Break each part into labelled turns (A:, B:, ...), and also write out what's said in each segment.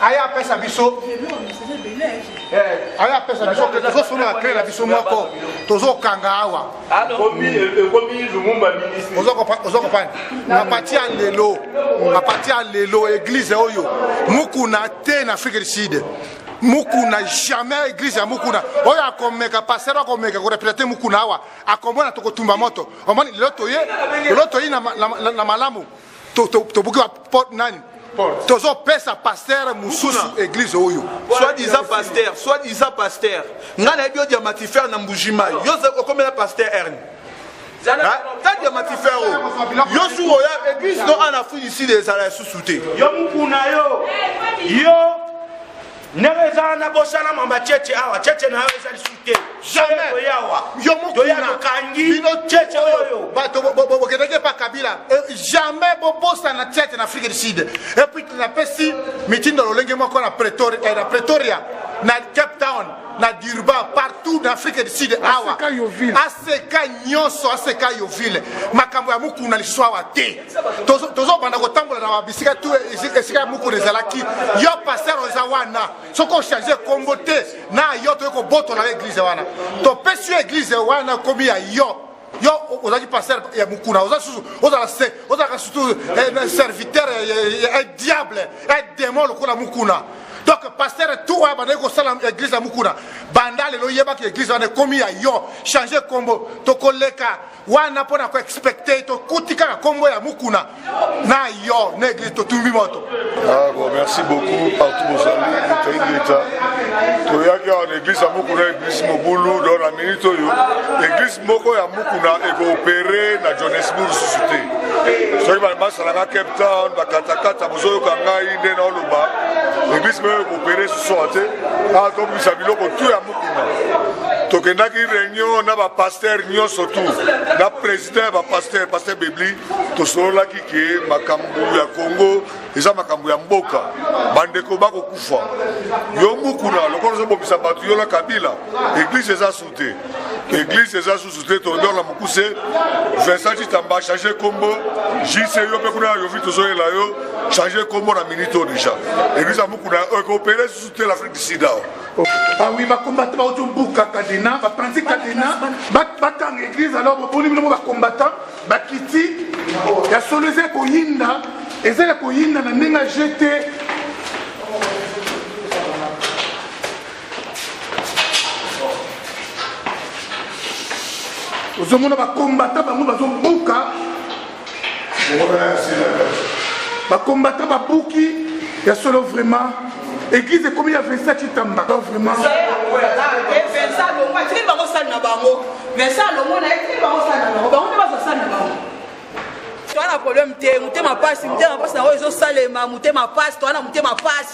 A: aya apesa biso aya apesa biso ke tozosolola kle na biso moko tozokanga awa oza kopani na pati ya lelo na pati ya lelo eglize oyo mukuna te na afrique du sud mukuna jamais église ya mukuna oyo akomeka pasteur akomeka korepresente mukuna awa akomona tokotumba moto omoni lelo toye lelo toyi na malamu tobuki ba porte nani tozopesa pastere mosusu eglize oyo swadisa pastere
B: swadisa pastere ngai nayebi yo diamatifer na mbujima yo okomela pastere erne tadi ya matifero yo suka oya eglise no ana afrique du sud ezala lisusu te yo mokuna yo
C: yo ndenge eza na bosana mamba cheche awa cheche
A: na yo eza lisu te toyawa toya tokangi
C: cheche oyo bato bokendaki
A: epa kabila euh, jamais bobosana cheche na afrique du sud epuis napesi mitindo lolenge moko na eh, pretoria na cape town na durban partout na afrique du sud awa aseka nyonso aseka yovile makambo ya mokuna lisusu awa te tozobanda kotambola na babisika tu esika ya mokolo ezalaki yo paster oza wana soki ochange nkombo te na yo toyei kobotola yo eglize wana topesi yo eglize wana ekomi ya yo yo ozalaki paster ya mokuna oza susu ozala se ozalaka surtout eh, serviteur ya diable ya demon lokola mokuna donc paster tu oyo abandaki kosala eglize ya mokuna banda lelo yebaki eglize wana ekomi ya yo change nkombo tokoleka wana mpo na koexpecte tokuti kaka nkombo ya mukuna na yo na eglise totumbi moto ah, bon, merci
D: beaucoup partout bozali etaingeta toyaki awa na eglise ya mukuna eglise mobulu don na minute oyo eglise moko ya mukuna ekoopere na johannesburg susu te soki basalanga cape town bakatakata bozoyoka ngai nde naoloba eglise moko ekoopere susu awa te awa tobimisa biloko tu ya tokendaki réunion na bapaster nyonso tu na président ya bapaster paster bebli tosololaki ke makambo ya congo eza makambo ya mboka bandeko bakokufa yo mukuna lokola ozobomisa bato yo na kabila eglise eza su te eglise eza susu te todor na mokuse vincent citamba change nkombo jc yo mpe kuna na yovi tozoyela yo change nkombo na minute oyo deja eglise ya mukuna ekopele susu Tu es l'Afrique du Sud awa. Oh. Ah oui,
A: bakombata bauti obuka kadena bapanzi kadena bakanga église alors boboni bino mo bakombata bakiti ya solo eza ya koyinda eza ya koyinda na ndenge ya jete ozomona bakombata bango bazobuka bakombata babuki ya solo vraiment église ekomi ya vincent chitamba vraiment atikeli bango sali na bango vincent alongo na
E: ye tikeli bango sali na bango bango nde baza sali na bango toana problème te motema mpasi motema mpasi na oyo ezosalema motema mpasi toana motema mpasi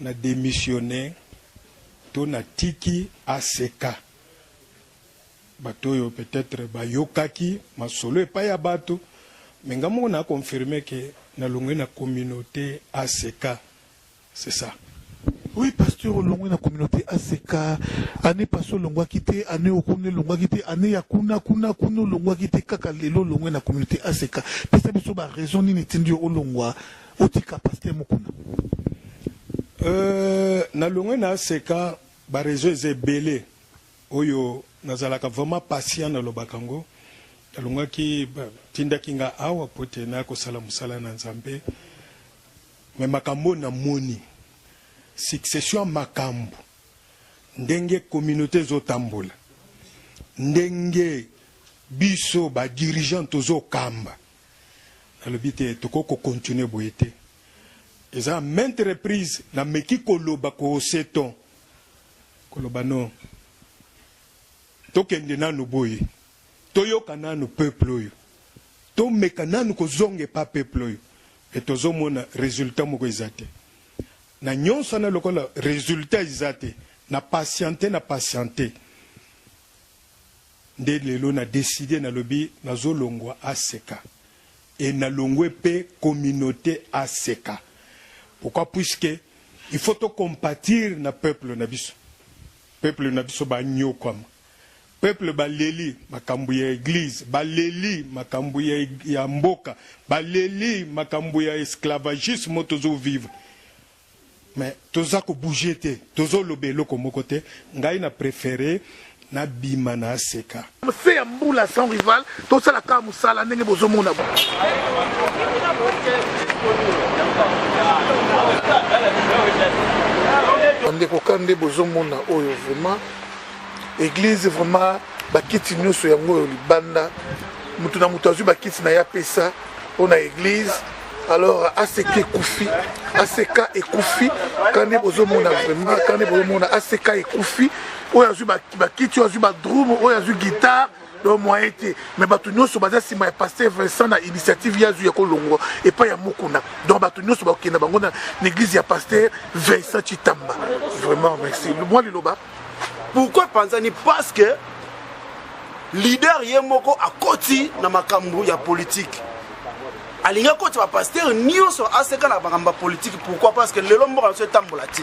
F: Na demissionner to na tiki ACK. Bato oyo peut etre ba yokaki masolo epai ya bato mais nga moko na confirmer que na longwe na communaute ACK. C'est ça. Oui pasteur
G: olongwe na communaute ACK annee passe olongwaki te annee oyo kuna elongwaki te annee ya kuna kuna kuna olongwaki te kaka lelo olongwe na communaute ACK pesa biso ba raison nini etindi yo olongwa otika pasteur mukuna euh,
F: nalongwe na aseka bareseau eza ebele oyo nazalaka vraiment patient nalobaka yango nalongaki tindaki nga awa mpo te naya kosala mosala na nzambe me makambo oyo namoni succession ya makambo ndenge communauté ezotambola ndenge biso badirigeant tozokamba Nalobi te tokoki ko continuer boye te. Eza à maintes reprises nameki koloba ko hausser ton, koloba non, tokende nanu boye, toyoka nanu peuple oyo, tomeka nanu kozonga epa peuple oyo. Mais tozomona resultat moko eza te. Na nionso wana lokola resultat eza te, na patienter, na patienter. Nde lelo na decide nalobi nazo longwa aseka et na longwe pe communaute aseka pourquoi puisque il faut to compatir na peuple na biso peuple na biso ba nyokwama peuple ba leli makambo ya eglise ba leli makambo ya, ya mboka ba leli makambo ya esclavagisme tozo vivre Mais toza ko bouger te tozo loba eloko moko te ngai na prefere na bima na seka. Se ya mbula
G: sans rival tosala kaka musala ndenge bozo mona bo. Bandeko ka nde bozo mona oyo vraiment eglise vraiment bakiti nyonso yango oyo libanda moto na moto azwi bakiti na ye apesa mpo na eglise alors aseka ekufi aseka ekufi kande bozomona vraiment kande bozomona aseka ekufi oyo azwi bakiti oyo azwi badrume oyo azwi guitare donc moyen te mais bato nyonso baza nsima ya paster vincent na initiative ye azwi ya kolongwa epai ya mokuna donc bato nyonso bakokenda bango na église ya paster vincent chitamba vraiment merci mwa liloba pourquoi
C: epanzani parce que leader ye moko akoti na makambo ya politike alingi akoti bapastere nyonso aseka na makambo ya politike pourquoi parce que lelo mboka na biso etambola te